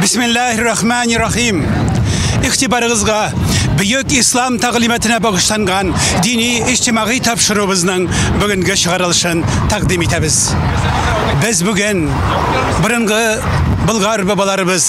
Бисмиллахир-рахманир-рахим. Ихтибарыгызга бөек ислам тәгълиматына багышланган дини иҗтимагый тапшыруыбызның бүгенге чыгарылышын тәкъдим итәбез. Без бүген борынгы Болгар бабаларыбыз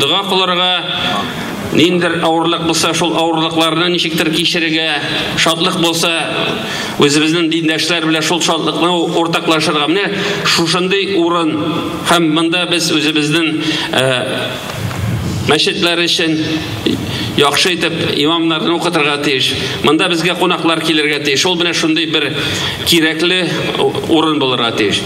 Дога кылырга, ниндер авырлык булса, шул авырлыкларны ничектер кичерергә, шатлык булса, үзебезнең диндәшләр белән шул шатлыкны уртаклашырга. Менә шушындый урын һәм монда без үзебезнең э, мәчетләр өчен яхшы итеп имамнарны укытырга тиеш. Монда безгә кунаклар килергә тиеш. Ул менә шундый бер кирәкле урын булырга тиеш.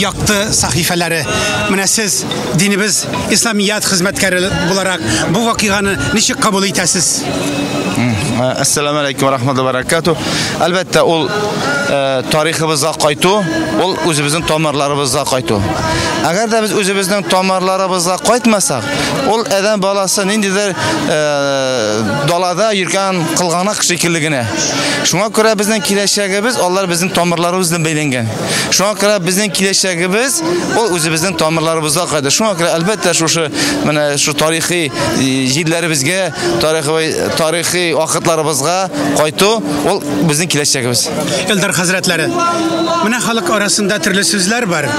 якты сәхифәләре. Менә сез динебез исламият хезмәткәре буларак бу вакыйганы ничек кабул итәсез? Ассаламу алейкум ва рахматуллахи ва баракату. Әлбәттә, ул э, тарихыбызга кайту, ул үзебезнең тамырларыбызга кайту. Әгәр дә без үзебезнең тамырларыбызга кайтмасак, ул әдәм баласы ниндидер э, далада йөргән кылганак шикелле генә. Шуңа күрә безнең киләчәгебез алар безнең тамырларыбыз белән бәйләнгән. Шуңа күрә безнең киләчәгебез ул үзебезнең тамырларыбызга кайтыр. Шуңа күрә әлбәттә шушы менә шу тарихи җирләребезгә, тарихи тарихи вакытларыбызга кайту ул безнең киләчәгебез. Элдер хәзрәтләре. Менә халык арасында төрле сүзләр бар.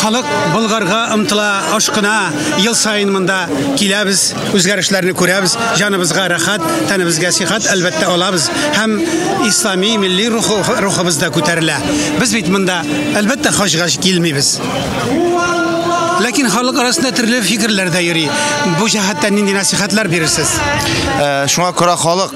Халык Болгарга ымтыла, ашкына, ел саен монда киләбез. үзгәрешләрне күрәбез, җаныбызга рәхәт, тәнебезгә сихәт әлбәттә алабыз һәм ислами милли рухы рухыбыз да күтәрелә. Без бит монда әлбәттә хаҗга килмибез. Ләкин халык арасында төрле фикерләр дә йөри. Бу җәһәттән нинди нәсихәтләр бирерсез? Э, шуңа күрә халык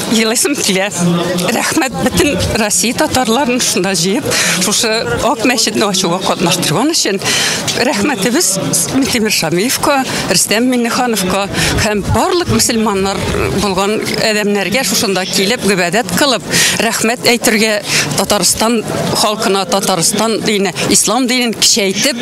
елыйсым килә. Рәхмәт бөтен Россия татарларын шунда җыеп, шушы Ак мәчетне ачуга катнаштырган өчен рәхмәтебез Митимир Шамиевка, Рөстәм Миннехановка һәм барлык мусульманнар булган адәмнәргә шушында килеп гыйбадәт кылып, рәхмәт әйтергә Татарстан халкына Татарстан дине, ислам динен кичәйтеп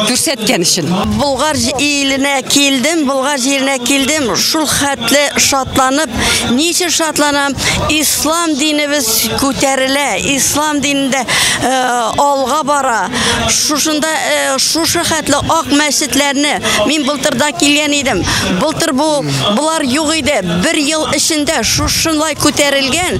күрсәткән өчен. Болгар иленә килдем, Болгар җиренә килдем, шул хәтле шатланып, ничә шатланам, ислам динебез күтәрелә, ислам динендә э, алга бара. Шушында э, шушы хәтле ак мәчетләрне мин былтырда килгән идем. Былтыр бу булар юк иде. Бер ел эчендә шушынлай күтәрелгән.